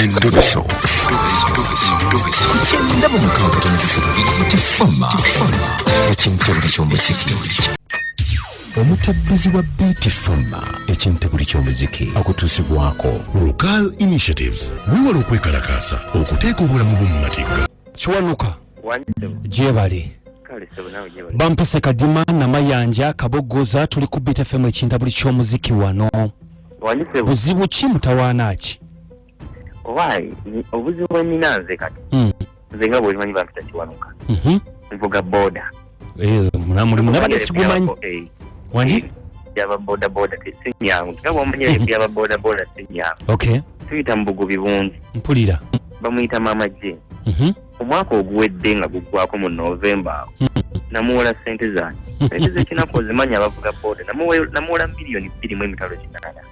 Endobeso. Kugenda mu mukaaga omuzizi lubiri tefama ekintabuli ky'omuziki omutabbizi wa beeti fama ekintabuli ky'omuziki akutuusibwako rugal initiatives wewala okwekalakaasa okuteeka obulamu bwo mu matigga kiwanuka gyebale bampise kadima namayanja kabogoza tuli ku bitefemu ekinta buli kyomuziki wano buzibu ki mutawaana ki owaye obuzibu bwenina nze kati hmm. nze nga bwemanyi bampita kiwanuka mhm. nvuga boda Eh, mulimu nabadde sigumanyi eh, wangi eh, byaba bodaboda sinyangu nga bwamanya mhm. byaba bodaboda sinyangu okay tuyita mu bugubi bungi mpulira bamuyita maama je mhm. omwaka oguwedde nga guggwako mu novemba awo mhm. namuwola sente zange sente zekinaku ozimanyi abavuga boda namuwola miliyoni bbiri mu emitalo kinana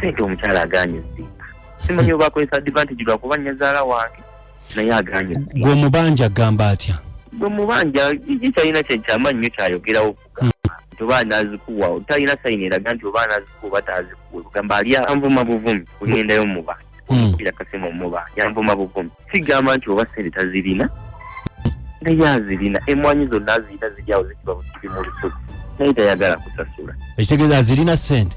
sente omukyala aganye zimba simanyi oba akozesa advantage lwakuba nyazaala wange naye aganye gwe omubanja agamba atya gwe omubanja iji kyalina kyekyama nnyo kyayogerawo kugamba hmm. nti oba anazikuwa talina sayini eraga nti oba anazikuwa oba tazikuwa kugamba ali anvuma buvumi kugendayo mubanja hmm. kira kasima omubanja anvuma buvumi sigamba nti oba sente tazirina naye azirina emwanyi zonna azirina ziryawo zikiba bukiri mu lusuku naye tayagala kusasula ekitegeeza azirina sente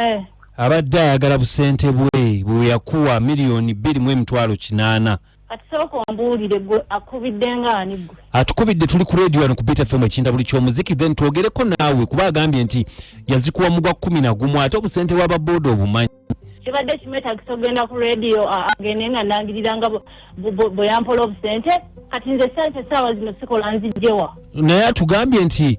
eh. abadde ayagala busente bwe bweyakuwa miliyoni bbiri mu emitwalo kinaana atukubidde tuli ku radio wano ku bit fm ekinda buli kyomuziki then twogereko naawe kuba agambye nti yazikuwa mugwa kumi na gumu ate obusente bwa babooda obumanyi kibadde kimwetagisa okugenda ku radio agende nga nangirira nga bweyampola obusente kati nze sente saawa zino sikola nzijjewa naye atugambye nti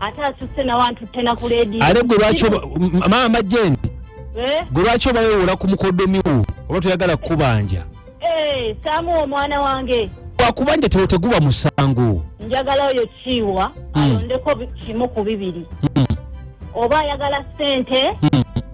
ate asusse nawe antutte na ku leediyo ate gwe lwaki maama jeni eh? gwe lwaki obawewola ku mukodomiwo oba toyagala kukubanja eh, saamu omwana wange wakubanja tewo teguba musango njagala oyo kiiwa hmm. alondeko kimu ku bibiri hmm. oba ayagala sente hmm.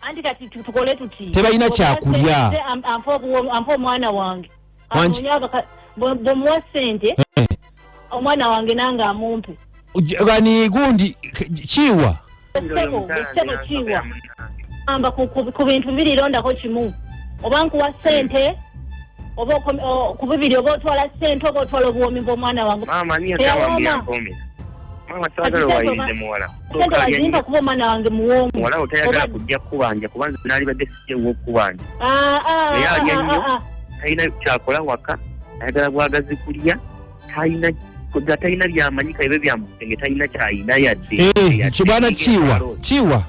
anti kati tukole tuti tebalina kyakulya ampa omwana wange bwemuwa sente eh. omwana wange nange amumpe ani gundi kiwa ekitebo ekitebo kiwa amba ku bintu bibiri londako kimu oba nkuwa sente oba ku bibiri oba otwala sente oba otwala obuwomi bwomwana wange maama niyo tawambia mpome maama sagala wayinde muwala sente wazimpa kuba omwana wange muwoomu muwalawo tayagala kujja kukubanja kuba nze naalibadde sijja ewokukubanja ah, ah, naye alya ah, nnyo talina kyakola waka ayagala bwagazi kulya talina nga talina byamanyi kaibe byamusenge talina kyalina yadde eh, kibwana kiwa kiwa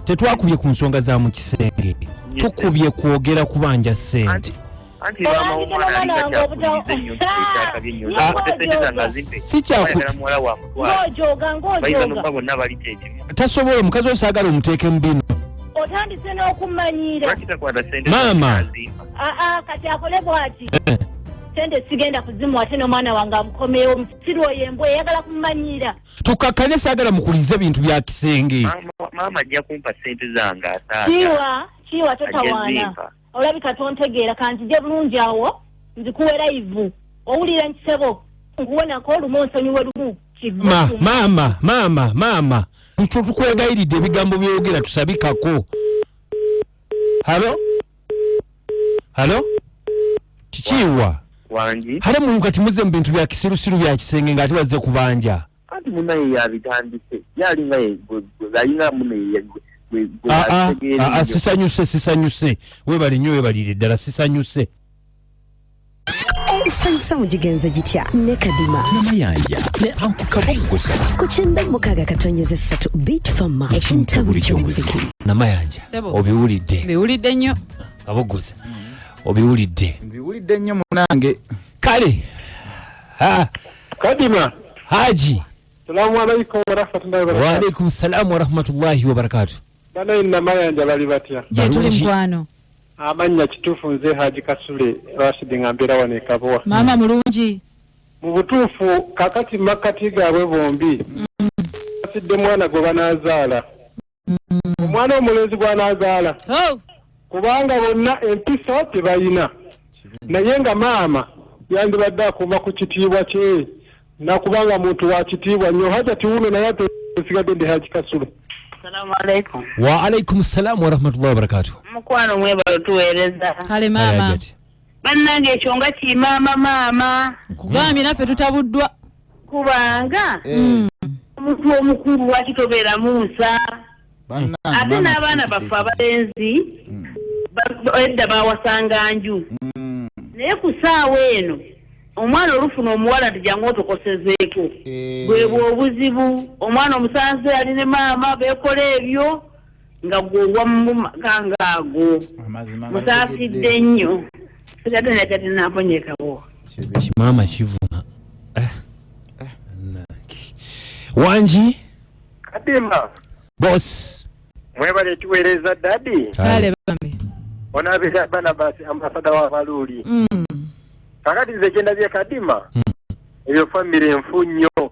tetwakubye ku nsonga za mu kisenge tukubye kwogera kubanja sente anti maama w'omwana alinga kyakuyize nnyo nkikyakabye nnyo naakote sente zange azimpe sikyakuayagala muwala wa mutwala bayiza nokuba bonna bali kyekimu tasobola omukazi osaagala omuteeke mu bino otandise n'okumanyira lwaki takwata sente maama aa kati akole bwati eh. sente sigenda kuzimu ate nomwana wange amukomewo musiru oyo embwa eyagala kumumanyira tukakane sagala mukulize bintu bya kisenge maama ajja kumpa sente zange asaa kiwa kiwa totawaana Olabika tontegeera kanzije bulungi awo nzikuwe layivu owulira nkisebo nkuwonako lumu onsonyiwe lumu maama maama maama tukwegayiridde ebigambo byoyogera tusabikako halo halo kikiiwa hale mulu kati muze mu bintu bya kisirusiru bya kisenge ng'ate wazze kubanja anti munaye yabitandise ye alinga alinga munaye ah, ah, ah, sisanyuse sisanyuse webale nnyo webalire ddala sisanyuse ensanyusa mugigenze gitya ne kadima namayanja ne ankukaboggoza ku kyenda mukaaga katonyeza essatu bit fama ekintabuli kyomuziki namayanja obiwulidde biwulidde nnyo kaboggoza obiwulidde mbiwulidde nnyo munange kale ha kadima haji salamu alaikum warahmatullahi wabarakatuh waalaikum salamu warahmatullahi wabarakatuh bana inna mayanja bali batya jetuli mkwano amannya kituufu nze haji kasule rashidi nga mbeera wano ekabowa maama mulungi mu butuufu kakati makkati gaabwe bombi mm. asidde mwana gwe banaazaala mm. omwana omulenzi gwanazaala oh. kubanga bonna empisa tebalina naye nga maama yandibadde akuuma ku kitiibwa kye nakubanga muntu wa kitiibwa nnyo haja tiwuno naye ate esigadde ndi haji kasule waalaikum salaamu warahmatullahi wabarakatuh mukwano mwebalo tuweereza kale maama bannange ekyo nga kimaama maama nkugambye naffe tutabuddwa kubanga mm. omuntu omukulu lwaki tobeeramu nsa ate n'abaana baffe abalenzi mm. edda bawasanga nju mm. naye ku saawa eno omwana olufuna omuwala nti jangu otokosezeeko eh. bwebwe obuzibu omwana omusanze ali ne maama bekola ebyo nga gwe owamumaganga ago musaasidde nnyo sigatenakyatinaponyekawo kimaama kivuma eh. eh. wangi kadimba bos mwebale tuweereza dadi kale bambi onabeera banabasi ambasada wa baluuli mm. kakati nze kyendabye kadima mm. ebyo famiry nfu nnyo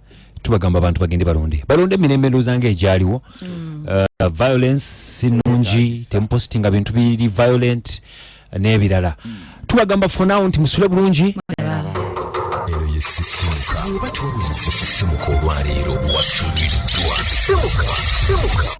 tubagamba abantu bagende balonde balonde emirembe ndowooza nga egyaliwo mm. uh, violence sinungi temupositinga bintu biri violent n'ebirala mm. tubagamba fonawo nti musule bulungi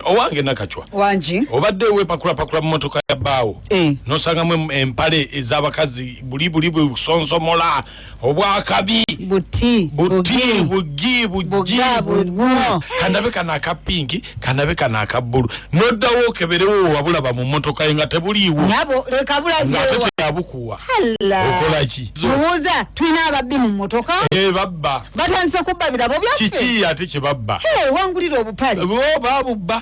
owange nakacwa wangi obadde wepakulapakula mumotoka ya bbaawo eh. nosangamu empale ez'abakazi bulibuli bwe busonsomola obwakabi buti buti bugi bugi buwo kanabe kana akapingi kanabe kana akabbulu noddawo okeberewo wabulaba mu mmotoka ye nga tebuliiwo nabo leka bulazeewa yabukuwa okola ki mubuuza tulina ababbi mu mmotoka eh, babba batandise kubba birabo byaffe kiki ate kye babba wangulira obupale bo babubba